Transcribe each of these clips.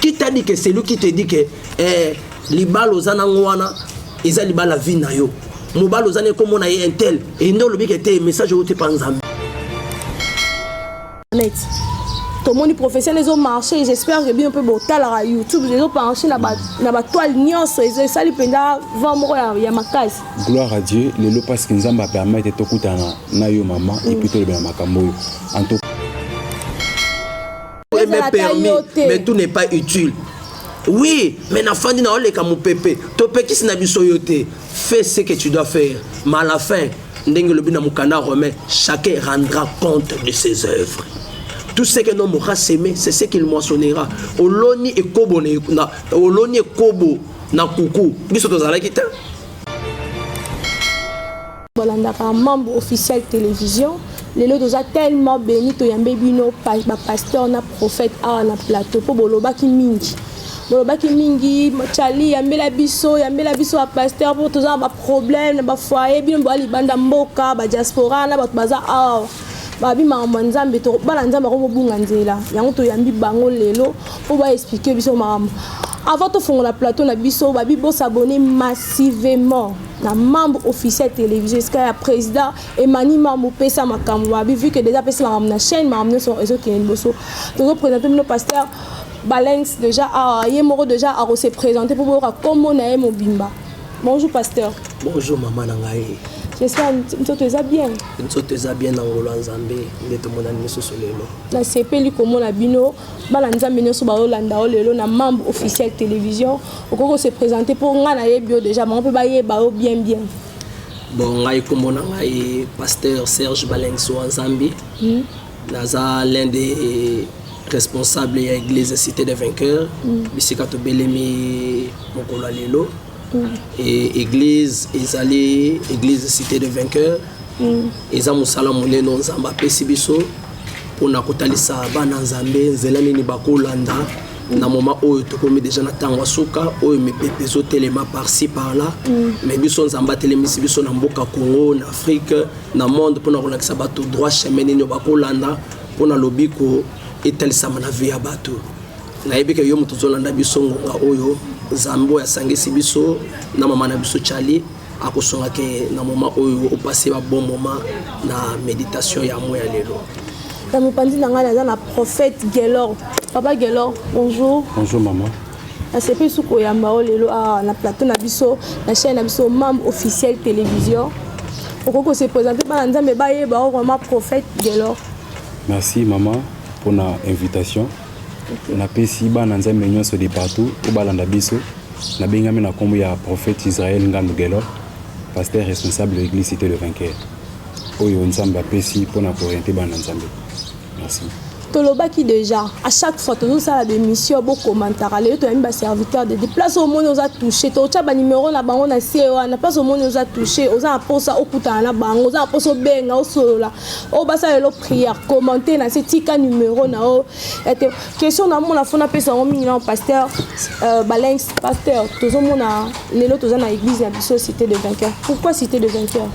qui t'a dit que celui qui te dit que eh, libala oza nango wana eza libala vie na yo mobali oza na ekomona ye intel ende olobi ke te message oyo te mpa nzambe tomoni professionnel ezomarche j'espère que bino mpe botalaka youtube ezomarche na batoile nyonso esali mpenza vent moko ya makasi gloire à dieu lelo parce que nzambe apermete tokutana na yo mama epuis tolobela makambo oyo est même permis mais tout n'est pas utile oui mais nafandi naoleka mopepe topekisi na biso yo te fais ce que tu dois faire mais à la fin ndenge olobi na mokanda romain chacun rendra compte de ses œuvres tout ce que l'homme aura semé c'est ce qu'il moissonnera oloni ekobo na oloni ekobo na kuku biso tozalaki te bolandaka mambo officiel television lelo toza tellement beni toyambe bino bapasteur na prophète awa na plateau mpo bolobaki mingi bolobaki mingi chali yambela biso yambela biso bapasteur mpo toza na baproblème na bafoye bino boya libanda mboka badiaspora na bato baza awa babi makambo ya nzambe bana nzambe ako mobunga nzela yango toyambi bango lelo mpo baexplike biso makambo avant tofongola plateau na biso babi bosabone massivement na membre officiel télévision esika ya président emani mambo pesa makambo mabi vu que déjà apesi makambo na chaîne makambo nyonso ezokende liboso tozopresente bino pasteur balenx déjà awa ye moko déjà akose présente mpo boyoka nkombo na ye mobimba bonjour pasteur bonjour mama na ngai j'espère nzoto eza bien nzoto eza bien na ngolo ya nzambe nde tomonani lisusu lelo nasepeli komona bino bana nzambe nyonso bayolanda yo lelo na membre officiel télévision okoki kose présente mpo ngai nayebi yo déjà bango mpe bayeba yo bien bien bon ngai nkombo na ngai pasteur serge balengso wa nzambe hmm. naza l'un des responsable ya église cité de vainqueur hmm. bisika tobelemi mokolo ya lelo et église ezali église cité de vainqueur mm. eza mosala monene nzambe apesi biso mpona kotalisa bana nzambe nzela nini bakolanda mm. na moma oyo tokomi deja na ntango ya suka oyo mipepe ezotelema parci par là mm. mais biso nzambe atelemisi biso na mboka congo na afrique na monde mpona kolakisa bato droit chemin nini bakolanda mpona lobiko etalisama na vie ya bato nayebi ke yo moto ozolanda biso ngonga oyo nzambe oyo asangisi biso na mama na biso chali akosunga ke na moma oyo opase ba bon moma na meditation ya mo ya lelo na mopanzi na ngai naza na prophète gelor papa gelor bonjour bonjour mama nasepeli su koyamba yo lelo awa ah, na plateau na biso na chaîne na biso membre officiel télévision okoki kose présente bana nzambe bayeba yo vraiment prophète gelor Merci maman pona invitation. Okay. Napesi bana Nzambe nyonso de partout oyo balanda biso. Nabengami na kombo ya prophète Israël Ngandu Gelo, pasteur responsable ya église Cité le Vainqueur. Oyo Nzambe apesi pona ko orienter bana Nzambe. Merci. tolobaki déjà à chaque fois tozosala bémission bokomantaka lelo toyami baserviteur de place omoni oza touché totya banimero na bango na se wana place omoni oza touché oza na mposa okutana na bango oza na mposa obenga osolola oyo basala lelo prière commente na se tika numero na yo ete question namona fona apesa yango mingi nao pasteur euh, balenx pasteur tozomona lelo toza na église na biso cité de vainqueur pourquoi cité de vainqueur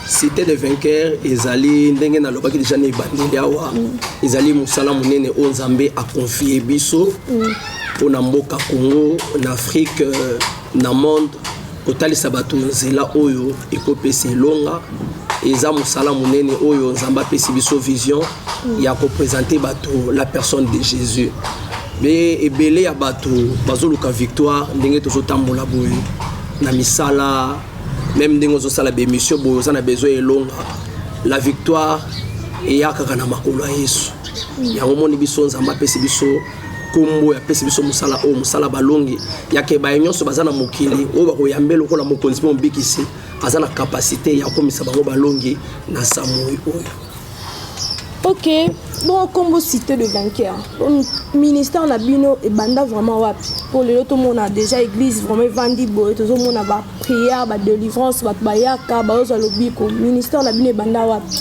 cité de vainqueur ezali ndenge nalobaki deja na ebandeli awa mm. ezali mosala monene oyo nzambe akonfie biso mm. mpo na mboka congo na afrique euh, na monde kotalisa bato nzela oyo ekopesa elonga eza mosala monene oyo nzambe apesi biso vision ya kopresente bato la personne de jésus be ebele ya bato bazoluka victoire ndenge tozotambola boye na misala meme ndenge ozosala bemission boye oza na besoin elonga la victoire eyakaka na makolo ya yesu yango omoni biso nzambe apesi biso nkombo oyo apesi biso mosala oyo mosala balongi yake baye nyonso baza na mokili oyo bakoyambe lokola mokonzi mpe mobikisi aza na kapasite ya kokomisa bango balongi na samoi oyo ok bon nkombo cité de vainqueur ministère na bino ebanda vraiment wapi mpo lelo tomona déjà église vraiment evandi boye tozomona baprière badelivrance bato bayaka bazozwa lobiko ministère na bino ebanda wapi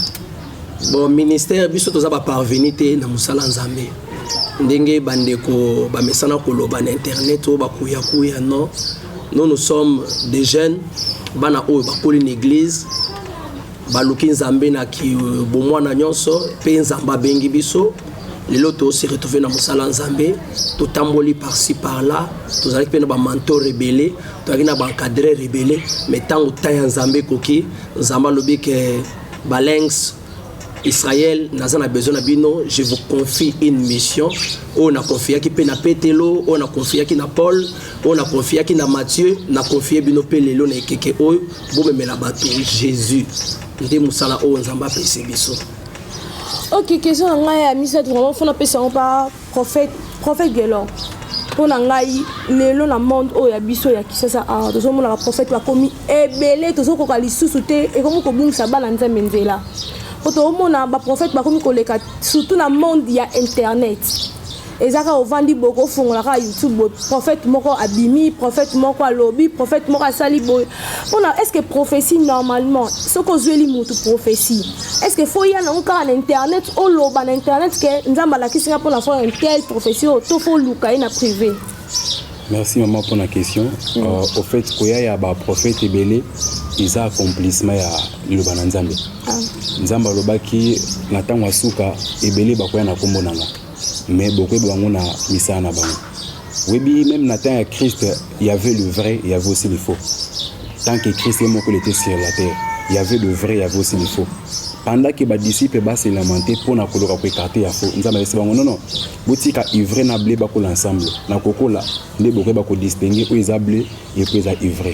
Bon ministère biso toza ba parvenu te na musala Nzambe. Ndenge bandeko bamesana koloba na internet oyo bakuya kuya non. Nous nous sommes des jeunes bana oyo bakoli na église baluki Nzambe na ki euh, bomwana nyonso pe Nzambe abengi biso lelo tosi retrouve na mosala nzambe totamboli parci par là tozalaki mpe na bamanto rebele tozalaki na baencadre rebele mai ntango temps ya nzambe ekoki nzambe alobi ke Balengs Israël naza na besoin na bino je vous confie une mission oyo na confiaki mpe na petelo oyo na confiaki na paul oyo na confiaki na mathieu na confie bino mpe lelo na ekeke oyo bomemela bato jésus nde mosala oyo nzambe apesi biso ok question na ngai ya misato vraiment fona pesa yango pa Prophète, prophète Guelor, mpo na ngai lelo na monde oyo ya biso ya kisasa awa tozomonaka prophète bakomi ebele tozokoka lisusu te ekomi kobungisa bana nzambe nzela mpo toomona baprophète bakomi koleka surtout na monde ya internet eza kaka ovandi boye kofongola kaka youtube boye prophète moko abimi prophète moko alobi prophète moko asali boye mpona est ce que prophétie normalement soki ozweli motu prophétie est ce que fo ya nango kaka na internet oloba na internet ke nzambe alakisi nga mpona fo tel prophétie oyo to fo luka ye na privé merci mama mpo na question mm. uh, au fait koya ya baprofete ebele eza accomplissement ya liloba na nzambe ah. nzambe alobaki na ntango ya suka ebele bakoya na nkombo na nga me bokoyeba bango na misala na bango Webi, même na temps ya Christ, il y avait le vrai, il y avait aussi le faux. Tant que Christ est moko, il était sur la terre. Il y avait le vrai, il y avait aussi le faux. Pendant que ba disciples ba se lamenter pour na koloka ko écarter ya faux. Nzamba yesi bango non non. Botika ivre na blé ba kola ensemble. Na kokola nde bokoyeba ko distinguer oyo eza blé et puis eza ivre.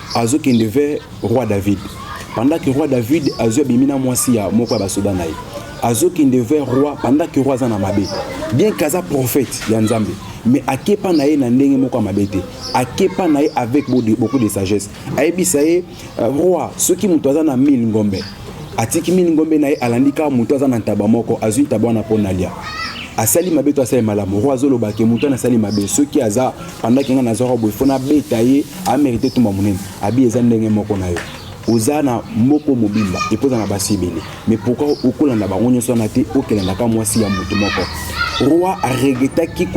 azo kende vers roi David pendant que roi David azo abimi na mwasi ya moko ya basoda na ye azo kende vers roi pendant que roi aza na mabe bien kaza prophète ya Nzambe mais akepa na ye na ndenge moko ya mabe te akepa na ye avec beaucoup de sagesse ayebisa ye euh, roi soki moto aza na 1000 ngombe atiki 1000 ngombe na ye alandi kaka moto aza na ntaba moko azwi ntaba wana mpo na lia asali mabe to asali malamu roi azolobake moto wana asali mabe soki aza pendant que nga nazwaka boye fo nabeta ye amerite tumba monene abi eza ndenge moko na yo oza na moko mobimba epo oza na basi ebele mais pourkui okolanda bango nyonso wana te okelandaka mwasi ya motu moko roi aregretaki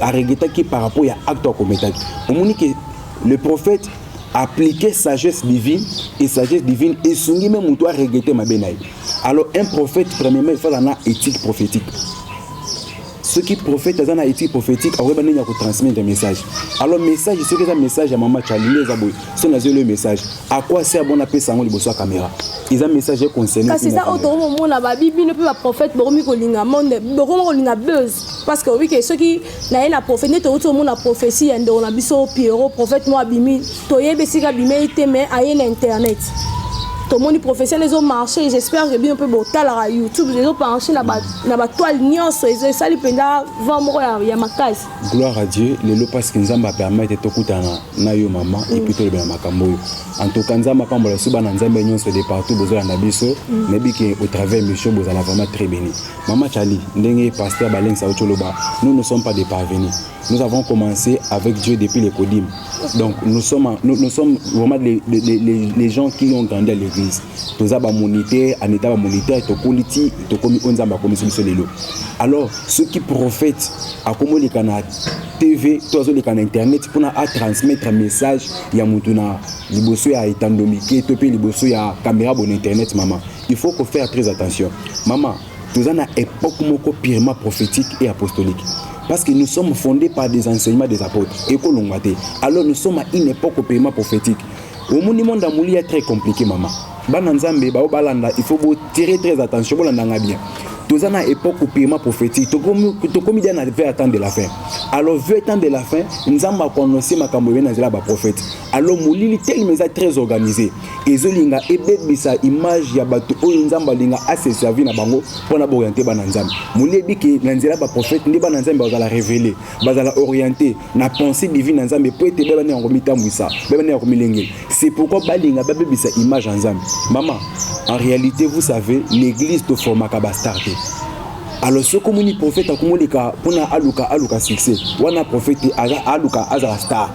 aregretaki par rapport ya acte akometaki omoni ke le prophète appliquer sagesse divine et sagesse divine esungi me motu aregrete mabe na ye alors un prophète premièrement efala na éthique prophétique soki prophète aza na étude prophétique akoyeba ndenge ya kotransmettre message alors message soki eza message ya mama charli nde eza boye so nazwi eloyo message akwa se abona apesa yango liboso ya caméra eza message ya concerne kasi eza oyo tokomi komona babi bino mpe baprophète bokomi kolinga monde bokomi kolinga buzz parce que oyebi ke soki naye na prophète nde tokoti komona prophétie ya ndeko na biso pierrot prophète mo abimi toyebi esika abimeli te mais aye na internet tomoni professionnel ezo marché j'espère que bino mpe botalaka youtube ezo penche na batoile nyonso esali mpenza vent moko ya makasi gloire à dieu lelo parce que nzambe apermettre tokutana na yo mama mm. epuis tolobela makambo oyo en tout cas nzambe apambola biso bana nzambe nyonso de partout bozolanda biso mm. nayebi ke au travers mission bozala vraiment très béni mama chali ndenge pasteur balengisa yo toloba nous ne sommes pas des parvenus Nous avons commencé avec Dieu depuis les Kodim. Donc nous sommes, nous, nous sommes vraiment les, les, les, les, gens qui ont grandi à l'église. toza bamonite aneta bamonite tokoli ti tokomi oyo nzambe akomisi biso lelo alors soki prophète akomoleka na tv to azoleka na internet mpona atransmettre message ya motu na liboso ya etando mike to mpe liboso ya kamera bona internet mama il faut kofaire très attention mama Toza na epoque moko purement prophétique et apostolique. Parce que nous sommes fondés par des enseignements des apôtres. Et que l'on Alors nous sommes à une époque purement prophétique. Au monde, monde à mourir très compliqué, maman. Bana Nzambe, bao balanda, il faut vous tirer très attention, bolanda bien. Toza na époque purement prophétique. Tokomi tokomi dia na vers temps de la fin. Alors vers temps de la fin, Nzamba a annoncé makambo yena zela ba prophète. Alors molili tellement très organisé. ezolinga ebebisa image ya bato oyo nzambe alinga ase servi na bango mpo na baoriente bana nzambe molebi ke na nzela baprofete nde bana nzambe bazala revele bazala oriente na pensée divine na nzambe mpo ete bebani yango mitambwisa bebani yango milengela c'est pourquoi balinga babebisa image ya nzambe mama en réalité vous savez l'église toformaka bastar te alors soki omoni profete akomoleka mpona aluka aluka succès wana profete aluka azala star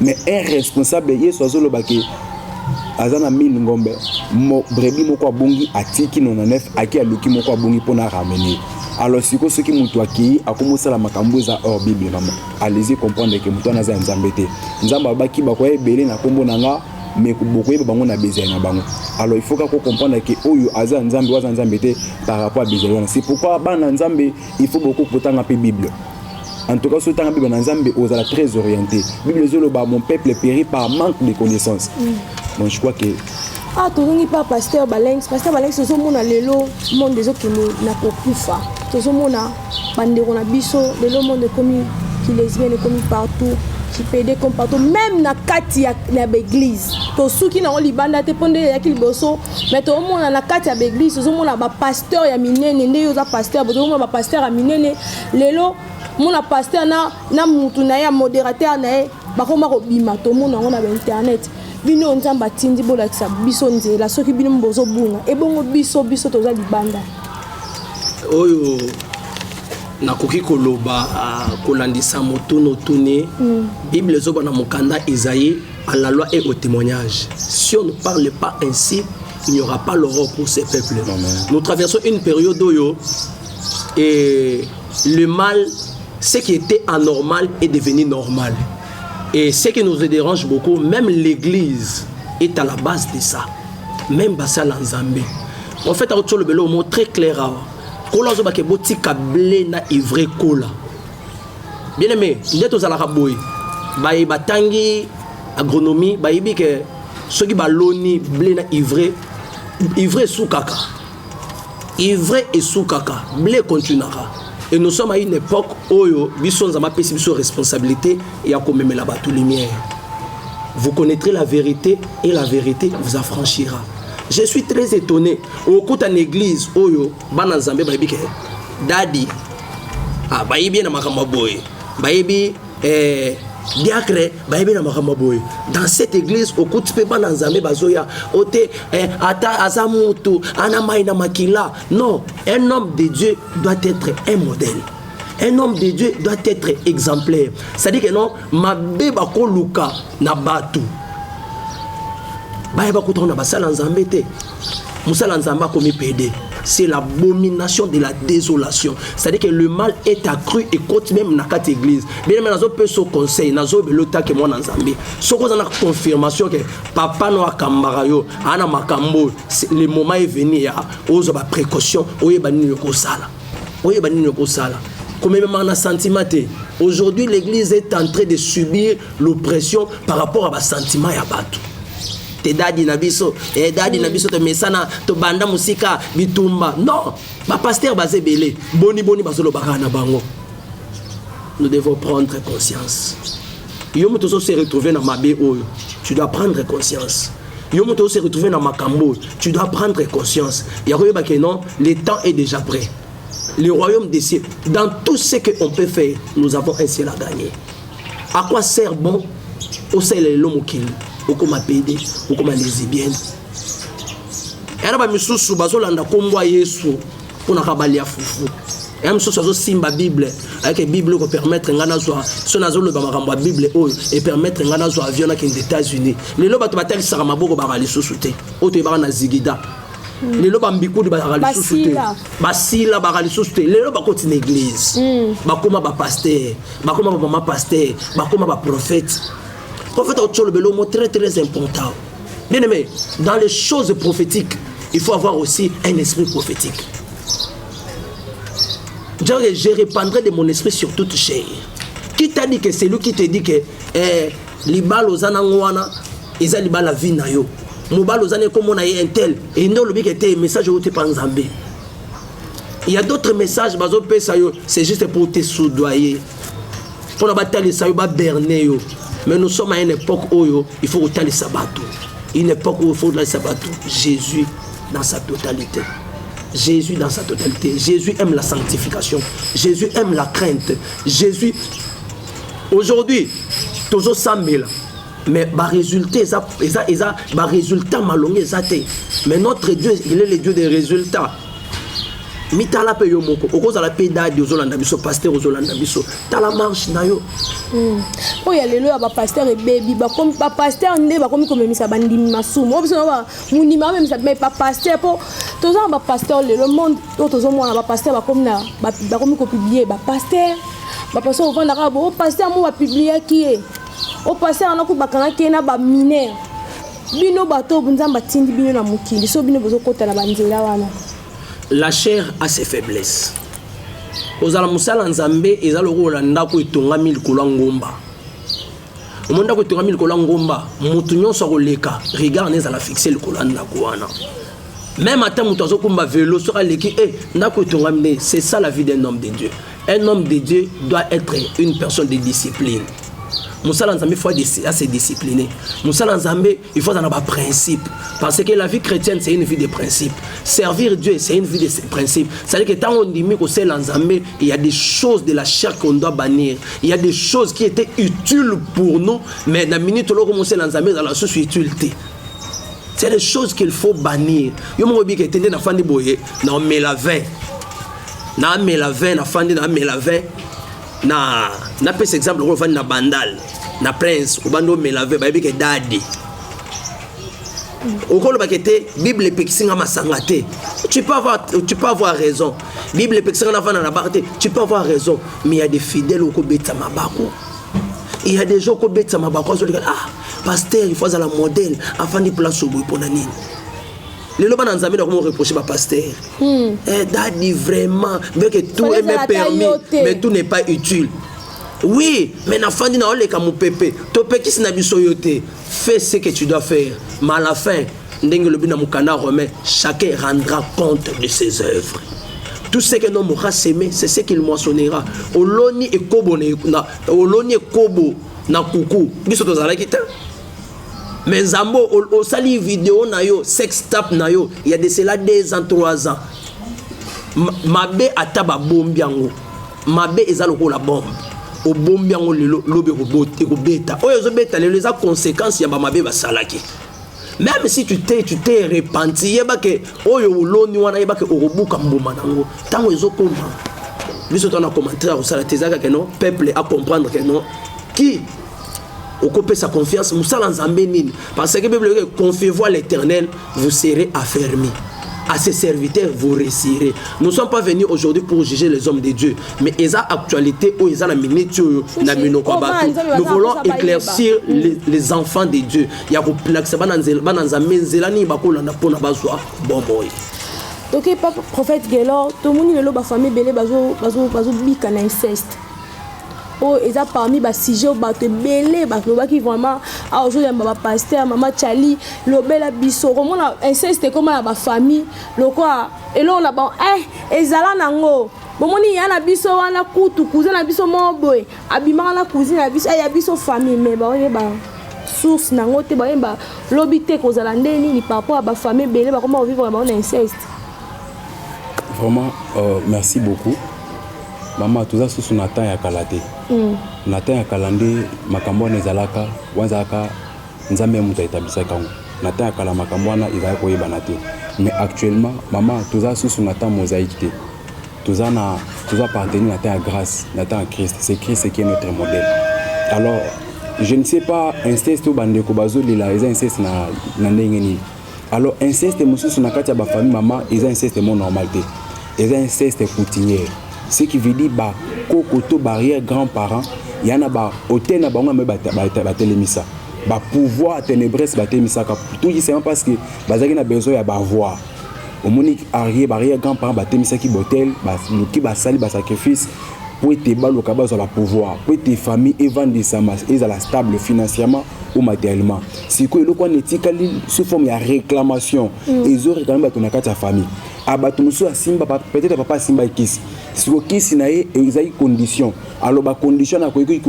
mais un responsable yesu azoloba ke aza na 1000 ngombe mo, brebi moko abungi atiki 99 ake aluki moko abungi mpo na ramene alors sikoyo soki moto akei akomi osala makambo eza or bible mama alezi comprendre ke moto wana aza ya nzambe te nzambe abaki bakoya ebele na nkombo na nga mais bokoyeba bango na bezali na bango alors il faut kaka comprendre ke oyo aza nzambe oyo aza nzambe te par rapport ya bezali wana c'est pourquoi bana nzambe il faut bokokotanga mpe bible En tout cas, ce temps, Bible Nanzambe, aux la très orienté. Bible Zoloba, mon peuple périt par manque de connaissances. Mm. Bon, je crois que. Ah, tu n'es pas pasteur Balenx. Pasteur Balenx, c'est mon lelo, mon des autres qui n'a pas pu faire. C'est mon bandero na biso, lelo monde commis, qui lesbienne est commis partout. qui pede comme partout même na kati ya, ya baeglise tosuki nango libanda te mpo nde eyaki liboso mai toomona na kati ya baeglise tozomona bapasteur ya minene nde yo oza pasteur bozomona bapasteur ya minene lelo mona pasteur na, na mutu na ye ya moderateur na ye bakoma kobima tomona yango na bainternet bino nzambe atindi bolakisa biso nzela soki bino bozobunga ebongo biso biso toza libanda oyo nakoki koloba ah, kolandisa motuna otuni mm. bible ezoba na mokanda esaïe à la loi et au témoignage si on ne parle pas ainsi il n'y aura pas l'aurore pour ces peuples nous traversons une période oyo et le mal ce qui était anormal est devenu normal et ce qui nous dérange beaucoup même l'église est à la base de ça même basala nzambe en fait akoki tolobela omo très clair awa kola azobake botika ble na ivre kola bien aimé nde tozalaka boye baye batangi agronomie bayebi ke soki baloni ble na ivre ivre esukaka Ivre esukaka, ble continuaka. Et nous sommes à une époque oyo biso nzama pesi biso responsabilité ya komemela bato lumière. Vous connaîtrez la vérité et la vérité vous affranchira. Je suis très étonné. Okuta na église oyo bana nzambe bayebi ke dadi ah, bayebi na makambo boye. Bayebi eh, diacre bayebi na makambo boye dans cette église okuti mpe bana nzambe bazoya o te eh, ata aza mutu ana mai na makila non un homme de dieu doit être un modèle un homme de dieu doit être exemplaire c'est-à-dire que non mabe bakoluka na bato bayeba kutango na basala nzambe te mosala nzambe akomi pede c'est l'abomination de la désolation c'est-à-dire que le mal est accru et cote même na kati église bien mais nazo pe so conseil nazo belo ta que mwana nzambe soko za na confirmation que papa no akambaka yo ana makambo le moment est venu ya ozo ba précaution oyeba nini ko sala oyeba nini ko sala komememaka na sentiment te aujourd'hui l'église est en train de subir l'oppression par rapport à ba sentiment ya bato te dadi na biso eh, dadi na biso tomesana tobanda mosika bitumba non bapaster baza ebele boni boni bazolobaka na bango nous devons prendre conscience yo moto ozo se retrouver na mabe oyo tu dois prendre conscience yo moto ozo se retrouver na makambo oyo tu dois prendre conscience ya koyeba ke non le temps est déjà prêt le royaume des cieux dans tout ce que on peut faire nous avons un ciel à gagner à quoi sert bon osalela lelo mokili okoma pede okoma lesbienne yana bamisusu bazolanda nkombo ya yesu mpo na kabali ya fufu ya mosusu azosimba bible ayeke bible ekopermettre ngai nazwa so nazoloba makambo ya bible oyo epermettre ngai nazwa avion nakende états-unis lelo bato batalisaka maboko baka lisusu te oyo toyebaka na zigida Mm. lelo bambikudi bazalaka lisusu te basila baka lisusu te lelo bakoti na eglize mm. bakoma bapaster bakoma bamama paster bakoma baprofete profete akotisa olobelo mo très très important bien aimé dans les choses prophétiques il faut avoir aussi un esprit prophétique genre je répandrai de mon esprit sur toute chair qui t'a dit que celui qui te dit que eh, libala oza nango wana eza libala vie na yo mobali oza naye komona ye intel e nde olobi ke te message oyo te pa nzambe il y a d'autres messages bazopesa yo c'est juste pour te soudoyer mpona batalisa yo baberne yo mais nous sommes à une époque oyo il faut kotalisa bato une époque oyo il faut kotalisa bato jésus dans sa totalité Jésus dans sa totalité. Jésus aime la sanctification. Jésus aime la crainte. Jésus. Aujourd'hui, Tozo Samela, mais ba résultats eza eza eza ba résultats malonga eza te mais notre dieu il est le dieu des résultats mitala mpe yo moko okozala mpe dadi ozolanda biso paster ozolanda biso tala marche na yo hmm. oyo ya lelo ya bapaster ebebi bapaster nde bakomi komemisa bandimi masumu oyo biso na mondimi amemisa me bapaster mpo toza na bapaster lelo monde oyo tozomona bapaster bakomi kopiblie bapaster bapaster ovandaka bo paster yango bapibliaki ye au passé wana kutu bakangaki ye na baminere bino bato oyo nzambe atindi bino na mokili so bino bozokota na banzela wana la chair a ses faiblesses kozala mosala nzambe eza lokola ndako etongami likolo ya ngomba omoni ndako etongami likolo ya ngomba moto nyonso akoleka regard na ezala fixe likolo ya ndako wana meme ata moto azokumba velo soki aleki e eh, ndako etongami nde c'est ça la vie d'un homme de dieu Un homme de Dieu doit être une personne de discipline. mosala nzambe faut ase discipline mosala nzambe il faut azala na baprincipe parce que la vie chrétienne c'est une vie de principe servir dieu c'est une vie de principe c'est-à-dire que ntango ondimi kosala nzambe il y a des choses de la chair qu'on doit bannir il y a des choses qui étaient utiles pour nous mais na minute oloko mosala nzambe ezala lisusu utile te c'est des choses qu'il faut bannir yo moko obika etende na fandi boye na omela 20 na amela 20 na fandi na amela 20 na na pesa exemple ko fandi na bandal na prince obando mela 20 bayebi ke dadi okoloba ke te bible epekisi nga masanga te tu peux avoir tu peux avoir raison bible epekisi nga na fana na bar te tu peux avoir raison mais il y a des fidèles okobeta mabako il y a des gens okobeta mabako azolika ah pasteur il faut azala modèle afandi place oboye pona nini lelo bana nzambe na komo reproche ba pasteur hmm. eh, dadi vraiment bien que tout est même permis mais tout n'est pas utile oui mais nafandi na oleka mopepe topekisi na biso yo te fais ce que tu dois faire mais à la fin ndenge lobi na mokanda romain chacun rendra compte de ses œuvres tout ce que l'homme aura semé c'est ce qu'il moissonnera oloni ekobo oloni ekobo na kuku biso tozalaki te mais nzambo osali video na yo sex tap na yo ya de cela 2 ans 3 ans mabe ata babombi yango mabe eza lokola bombe obombi yango lelo lobi ekobeta oyo ezobeta lelo eza conséquence ya bamabe basalaki même si tu te tu te repenti yeba ke oyo oloni wana yeba ke okobuka mbuma nango ntango ezokoma biso tana commentaire akosala te ezalaka ke non peuple acomprendre ke non ki okopesa confiance mosala nzambe nini parce que bible eloki confiez-vous à l'éternel vous serez affermi à ses serviteurs vous réussirez nous sommes pas venus aujourd'hui pour juger les hommes de dieu mais eza actualité oyo eza na minute oyo na minoko ya bato nous voulons éclaircir les, les enfants de dieu ya kolakisa bana nzambe nzela nini bakolanda mpo na bazwa bomoi toke pa prophète gelor tomoni lelo bafamille ebele bazobika na inceste oyo oh, eza parmi ba sujet oyo bato ebele balobaki vraiment awa ah, ozoyamba ba pasteur mama chali lobela biso okomona inceste ekoma na bafamille lokola eloko na ban eh, ezala nango bomoni ya na biso wana kutu kuze na biso moko boye abimaka na kuzi na biso eh, ya biso famille me baoyeba source nango te baoyeba lobi te kozala nde nini par rapport ya bafamille ebele bakoma kovivre na bango na inceste Vraiment, euh, merci beaucoup. Mama, toza susu na temps ya kala te. Mm. Na temps ya kala nde makambo wana ezalaka, wana ezalaka Nzambe moto aetablisaka yango. Na temps ya kala makambo wana ezalaki koyebana te. Mais actuellement, mama, toza susu na temps mosaïque te. Toza na toza appartenir na temps ya grâce, na temps ya Christ. C'est Christ qui est notre modèle. Alors, je ne sais pas inceste ou bandeko bazolela eza inceste na na ndenge nini alors inceste mosusu na kati ya bafamille mama eza inceste mo normal te eza inceste coutumier ce qui veut dire bakoko to barrière grand parent ya na bahotel na bango yambe batelemisa bapouvoir ténébres batelemisaka tout justement parce que bazalaki na besoin ya bavoir omoni arie barrière grand parent batemisaki botel baluki basali basacrifice mpo ete baluka bazwa bapouvoir mpo ete famille evandisama ezala stable financièrement ou matériellement sikoyo eloko wana etikali sous forme ya réclamation mm. ezo réclame bato na kati ya famille a ah, bato mosusu asimba peut-être papa asimba ekisi siko kisi na ye ezali condition aloba condition na koyeki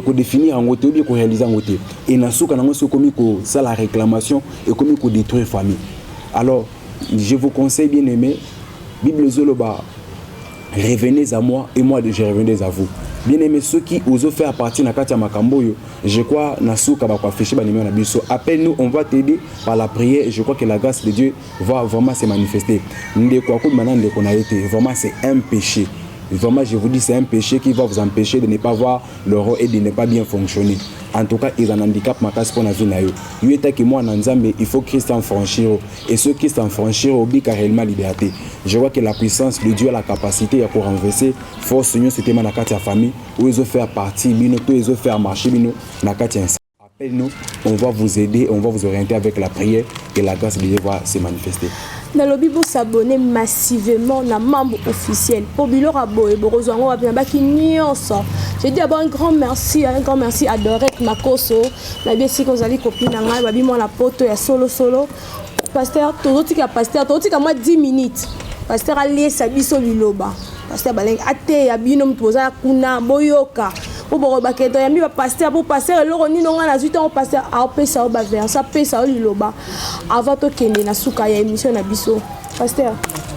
kodefinir yango te obi korealize yango te e na suka na yango soki ekomi kosala réclamation ekomi kodétruire famille alors je vous conseille bien aimé bible ezoloba revenez à moi et moi je revenez à vous bien aimé soki ozo faire partie na kati ya makambo oyo je crois na suka bakoaffiche banimero na biso appelle nous on va t'aider par la prière je crois que la grâce de dieu va vraiment se manifester ndeko akobima na ndeko na ye te vraiment c'est un péché Vraiment, je vous dis, c'est un péché qui va vous empêcher de ne pas voir l'euro et de ne pas bien fonctionner. En tout cas, ils ont un handicap, ma casse pour la vie. Yo, que moi, Nanzambe, il faut Christian franchir. Et ceux qui s'en franchirent obika réellement liberté. Je vois que la puissance de Dieu a la capacité ya ko renverser force union c'était na kati ya famille où ils ont fait partie bino to ils ont fait marcher bino na kati ya appelle nous on va vous aider on va vous orienter avec la prière et la grâce de Dieu va se manifester. nalobi bosabone massivement na membre officiel mpo biloko ya boye bokozwa yango wapi na baki nyonso je dis d'abord un grand merci un grand merci à dorek makoso nayebi esika ozali kopi na ngai babi mwana poto ya solosolo paster tozotika paster tozotika mwa 10 minutes paster aliesa biso liloba paster balengi ateya bino moto boza kuna boyoka mpo bokobake toyambi bapaster mpo paster eloko nino ngai nazwi ntango paster apesa yo baverse apesa yo liloba avant tokende na suka ya émission na biso paster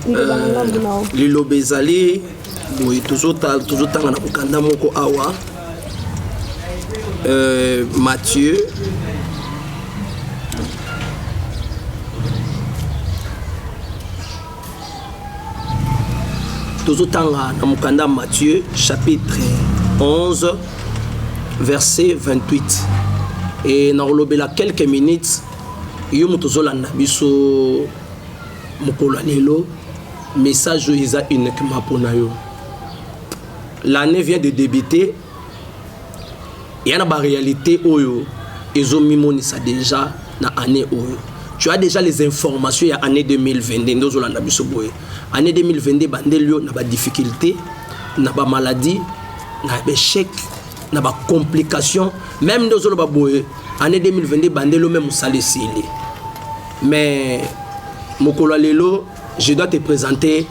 liloba na ngambo na yo liloba ezali boye tozotanga na mokanda moko awa euh, mathieu tozotanga na mokanda mathieu chapitre 11 verset 28 e nakolobela quelques minutes yo moto ozolanda biso mokolo ya lelo Message oyo eza uniquement pona yo. L'année vient de débuter. Il y a ba réalité oyo ezo mimonisa déjà na année oyo. Tu as déjà les informations ya année 2022 ndozo landa biso boye. Année 2022 bandeli yo na ba difficultés, na ba maladies, na ba échecs, na ba complications, même ndozo loba boye année 2022 bandeli yo même salesili. Mais mokolo lelo Je dois te présenter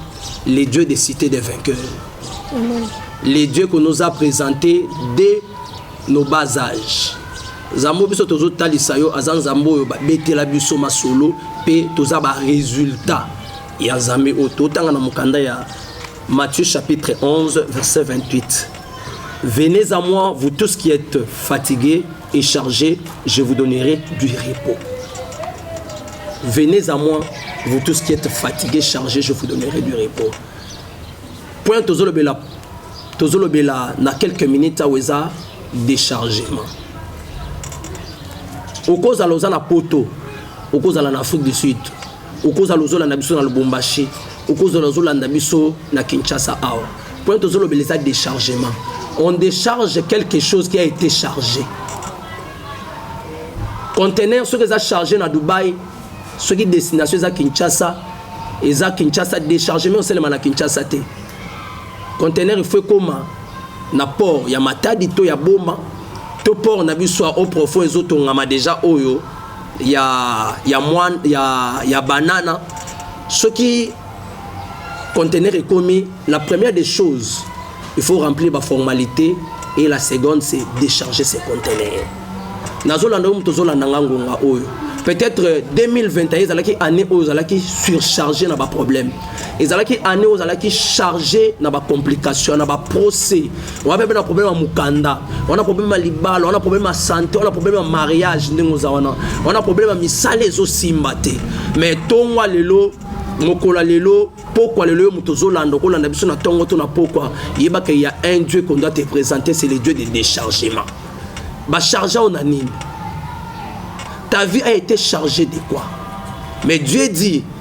les dieux des cités des vainqueurs. Amen. Les dieux qu'on nous a présentés dès nos bas âges. Zambo biso tozo talisa yo aza nzambo oyo babetela biso masolo pe toza ba résultat ya nzambe oyo totanga na mokanda ya Matthieu chapitre 11 verset 28 venez à moi vous tous qui êtes fatigués et chargé, je vous donnerai du repos. Venez à moi, vous tous qui êtes fatigués, chargés, je vous donnerai du repos. Point tozolobela tozolobela na quelques minutes awa eza déchargement okozala oza na poto okozala na afrique du sud okozala ozolanda biso na lubumbashi okozala ozolanda biso na kinshasa awa mpo ete ozolobela eza déchargement on décharge quelque chose qui a été chargé contener soki eza chargé na dubai soki destination eza kinshasa eza kinshasa déchargement osalema na kinshasa te contener il faut ekoma na port ya matadi to ya boma to port na biso ya au profond ezotongama deja oyo ya ya mwa ya ya banana soki conteneur ekomi la première des choses il faut remplir ba formalité et la seconde c'est décharger ces conteneurs nazolanda oyo moto ozolanda nga ngonga oyo peut-être 2021 euh, ezalaki année oyo ozalaki surchargé na baproblème ezalaki année oyo ozalaki chargé na bacomplication na baprocès wana mpe na problème ya mokanda wana problème ya libala wana problème ya sante wana problème ya mariage ndenge oza wana wana problème ya misala ezosimba te mais ntongwa lelo mokolo ya lelo pokwa lelo yo moto ozolanda okolanda biso na ntongo to na pokwa yebaka ya un dieu qu'on doit te présenter c'est le dieu de déchargement bacharge ao na nini ta vie a été chargée de quoi mais dieu dit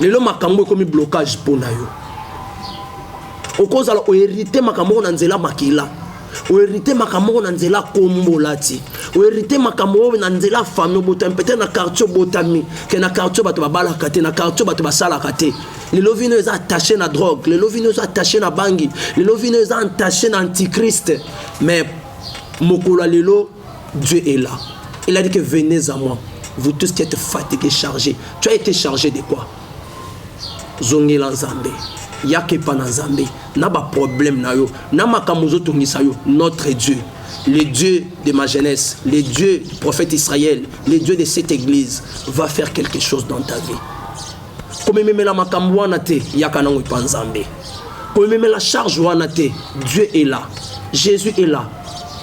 lelo makambo ekomi blocage mpo na yo okozala oherite makambo moko na nzela makila oherite makambo moko na nzela kombolati oherite makambo oyo na nzela fami obotami pete na quartier obotami ke na quartier bato babalaka te na quartier bato basalaka te lelo vino eza attaché na drogue lelo vino eza attaché na bangi lelo vino eza attaché na antichrist mais mokolo ya lelo Dieu est là. Il a dit que venez à moi. Vous tous qui êtes fatigués, chargés. Tu as été chargé de quoi Zongela Nzambe. Yaka epa na Nzambe. Na ba problème na yo. Na makambo ozotungisa yo. Notre Dieu. Le Dieu de ma jeunesse. Le Dieu du prophète Israël. Le Dieu de cette église. Va faire quelque chose dans ta vie. komememela makambo wana te yaka nango epa nzambe komememela charge wana te dieu est là jésus est là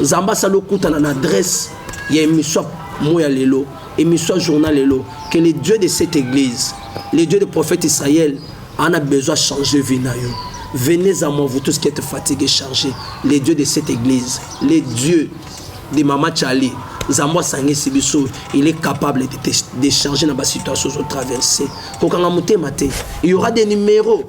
zamba sala okutana na adresse ya emission moya lelo emission journal lelo que le dieu de cette église le dieu de prophète israël en a besoin changer vie na yo venez à moi vous tous qui êtes fatigués chargés le dieu de cette église le dieu de mama chali nzambe asangisi biso il est capable de, de changer na basituation ozotraverse kokanga motema te il y aura des numéros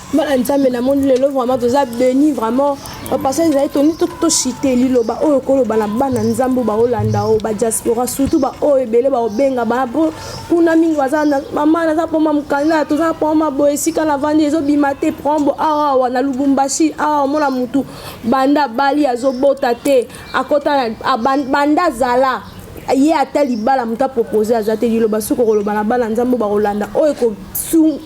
bana nzambe namoni lelo vraiment toza beni vraiment bapasa ezali toni toshite liloba oyo koloba na bana nzambe oyo baolanda oyo badiaspora surtout baoyo ebele baobenga bana mpo kuna mingi baza mama naza poma mokanda toza na poma boye esika na vandi ezobima te prombo awawa na lubumbashi awa omona motu banda bali azobota te akota banda azala ye ata libala moto apropose aza te liloba soki okoloba na bana nzambe bakolanda oyo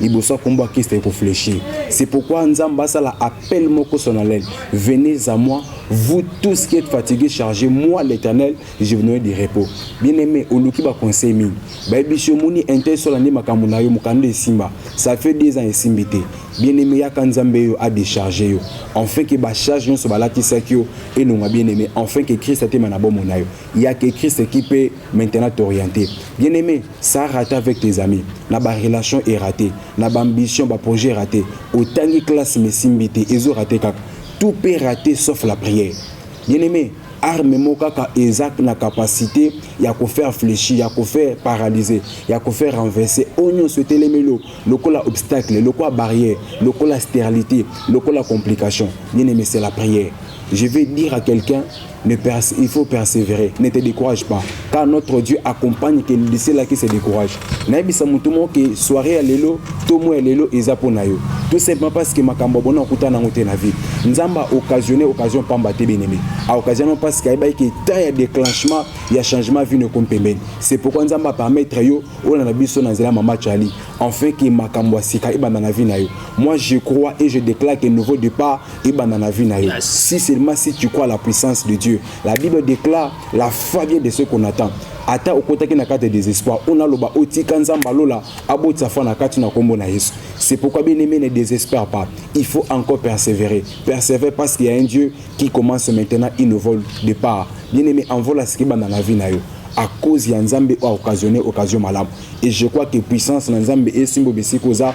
liboso akombo ya Christ eko fléchir. C'est pourquoi Nzamba asala appel moko solennel. Venez à moi, vous tous qui êtes fatigués, chargés, moi l'Éternel, je vous donnerai du repos. Bien-aimé, oluki ba conseil mingi. Bayebishi omoni intérêt sur l'année makambo na yo mokanda esimba. Ça fait des ans esimbi te. Bien-aimé yaka Nzambe yo a décharger yo. Enfin que ba charge nyonso balatisaki yo elonga bien-aimé. Enfin que Christ atema na bomo na yo. Yaka Christ qui peut maintenant t'orienter. Bien-aimé, ça rate avec tes amis na ba relation est raté na ba ambition ba projet raté otangi classe mais simbi te ezo raté kaka tout peut rater sauf la prière bien aimé arme moko kaka eza na capacité ya kofaire fléchir ya kofaire paralyser ya kofaire renverser oyo nyonso etelemeli yo lokola obstacle lokola barrière lokola stérilité lokola complication bien aimé c'est la prière je vais dire à quelqu'un Ne perse, il faut persévérer. Ne te décourage pas. Car notre Dieu accompagne que lycée là qui se décourage. Naibisa mutu mo que soirée à lelo, to mo ya lelo eza pona yo. Tout simplement parce que makambo bona okuta nango te na vie. Nzamba occasionné occasion pamba te bien aimé. A occasion parce que ayeba que temps ya déclenchement ya changement vie ne compte pembeni. C'est pourquoi Nzamba permettre yo ola na biso na nzela mama Charlie. Enfin que makambo asika ebanda na vie na yo. Moi je crois et je déclare que nouveau départ ebanda na vie na yo yes. si seulement si tu crois la puissance de dieu la bible déclare la foi vient de ce qu'on attend ata okotaki na kati ya désespoir oyo naloba otika nzambe alola abotisa foi na kati na nkombo na yesu c'est pourquoi bien aimé ne désespère pas il faut encore persévérer persévère parce qu'il y a un dieu qui commence maintenant il ne vole de part bien aimé envola siki banda na vie na yo à cause ya nzambe oyo occasionné occasion malamu et je crois que puissance na nzambe esimbo bisika oza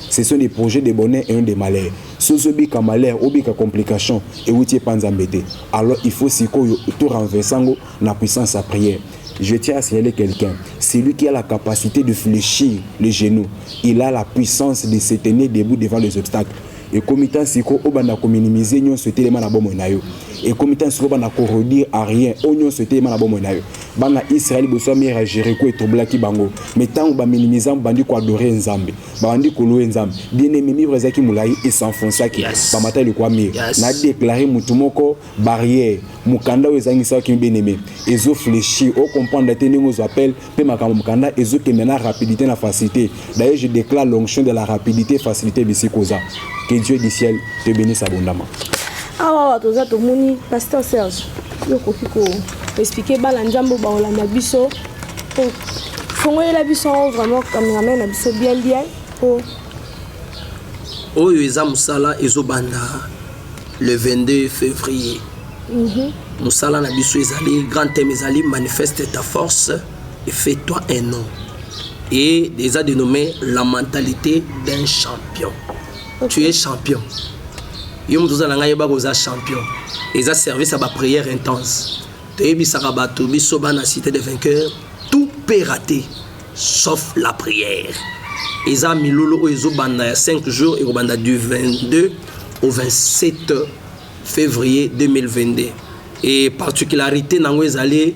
Ce sont des projets de bonheur et non de malheur. Si ozobika malheur, obika complication, ewuti epa Nzambe te. Alors il faut sikoyo to renverser yango na puissance ya prière. Je tiens à signaler quelqu'un, celui qui a la capacité de fléchir les genoux, il a la puissance de se tenir debout devant les obstacles. ekomi ntan siko obanda kominimize nyonso etelema na bomoi na yo ekomi ntan siko obanda koredire a rien oyo nyonso etelema na bomoi na yo bana israele boso ya mire ya jericho etroublaki bango me ntango baminimize bandi koadore nzambe babandi kolowe nzambe bien aime mibra ezalaki molai esenfonsaki yes. bamata eloko ya mire yes. na deklare motu moko barrière mokanda oyo ezangisaki bien aime ezo fleshi o comprendre te ndenge ozwa appel mpe makambo mokanda ezokende na rapidité na facilité d'ailleurs je déclare l'onction de la rapidité facilité bisika oza que dieu du ciel te bénisse abondamment awa ah, toza tomoni pasteur serge yo okoki ko expliquer bana nzambe baolanda biso po fongolela biso yango vraiment cameraman na biso bien bien po oyo eza mosala ezobanda le 22 février mhm. mosala na biso ezali grand thème ezali manifeste ta force et fait toi un nom et eza dénommé la mentalité d'un champion tu es champion yo moto oza na ngai yeba koza champion eza service ya baprière intense toyebisaka bato biso bana cité de vainqueur tout peut rater sauf la prière eza milulu oyo ezobanda ya 5 jours ekobanda du 22 au 27 février 2022 e particularité na yango ezali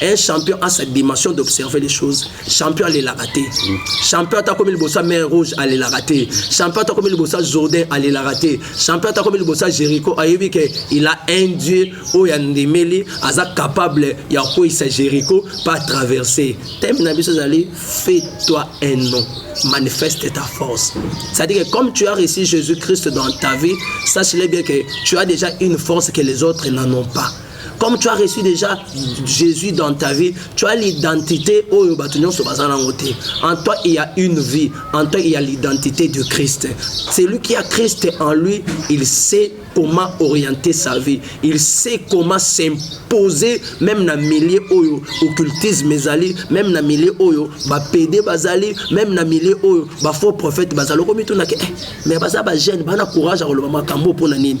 un champion a sa dimension d'observer les choses champion alelaka te champion ata akomi liboso ya mer rouge alelaka te champion ata akomi liboso ya jourdain alelaka te champion ata akomi liboso ya jéricho ayebi ke il a un dieu oyo andimeli aza capable ya kokweyisa jéricho mpe atraverse teme na biso ezali fait toi un nom manifeste ta force. C'est-à-dire que comme tu as reçu Jésus-Christ dans ta vie, sache-le bien que tu as déjà une force que les autres n'en ont pas. Comme tu as reçu déjà Jésus dans ta vie, tu as l'identité oyo bato nyonso baza nango te. En toi, il y a une vie. En toi, il y a l'identité de Christ. Celui qui a Christ en lui, il sait comment orienter sa vie. Il sait comment s'imposer même na milieu oyo occultisme ezali, même na milieu oyo ba PD bazali, même na milieu oyo ba faux prophètes bazali. Okomi tunaki, eh, mais baza ba jeune, bana courage à koloba makambo pona nini?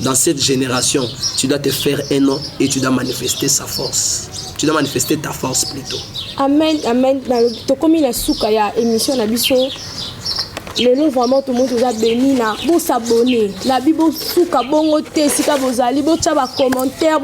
Dans cette génération, tu dois te faire un nom et tu dois manifester sa force. Tu dois manifester ta force plutôt. Amen, amen. Tokomi la souka ya émission na biso. lelo vraiment tomoni toza beni na bosabone na bi bosuka bongo te esika bozali botya bacommentaire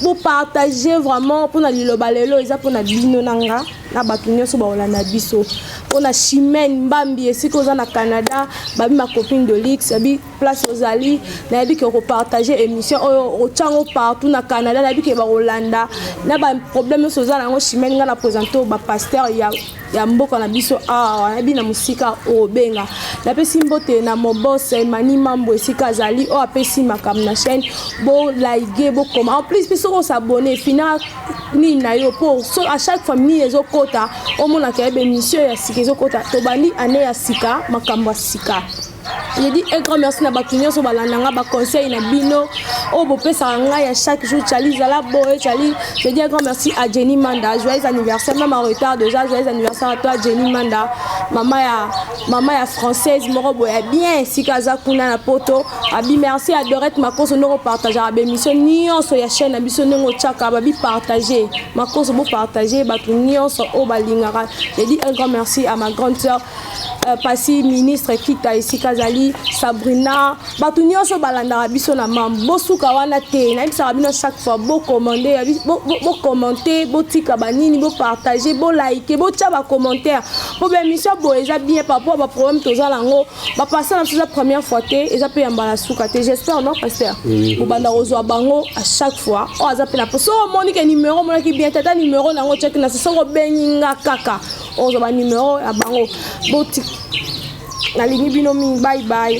bopartage vraiment mpo na liloba lelo eza mpo na bino na nga na bato nyonso bakolanda biso mpo na chimene mbambi esika oza na canada babi macopine de lix abi place ozali nayebi ke okopartage émission oyo otyango partout na canada nayebi ke bakolanda na baproblème nyonso oza na yango chimene ngai na présente oyo bapaster ya ya mboka na biso awa nayebi na mosika obenga napesi mbote na mobos emani mambo esika azali oyo apesi makambo na chaîne bolaige bokoma en plus mpe soki osabone fina nini na yo mpo so à chaque fois nini ezokota omonaka yebe mission ya sika ezokota tobandi ane ya sika makambo ya sika Je dis un grand merci na bato nyonso balanda nga baconseil na bino oyo bopesaka ngai ya chaque jour cali zala boye cali je dis un grand merci à jenny manda joyeux anniversaire même en retard déjà joyeux anniversaire à toi jenny manda mama ya mama ya française moko boye ya bien esika aza kuna na poto abi merci à dorette makoso ndenge opartageaka baémission nyonso ya chaîne na biso ndenge otyaka babi partage makoso bopartage bato nyonso oyo balingaka je dis un grand merci à ma grande sœur Euh, pasi ministre kita esika azali sabrina bato nyonso balandaka biso na mambo bosuka wana te nayebisaka bino chaque fois bocommande bocommante botika banini bopartage bolaike botya bacommentaire mpo baémission boye eza bien par rapport baproblème toza nango bapasa na biso eza première fois te eza mpe ya mbala suka te j'espère non pasteur bobanda kozwa bango à chaque fois oyo oh, aza mpe na mpo soki omoni ke numero omonaki bien tata numero na yango otyaki na se soki obengi nga kaka ozo ba numero ya bango boti nalingi bino mingi bye bye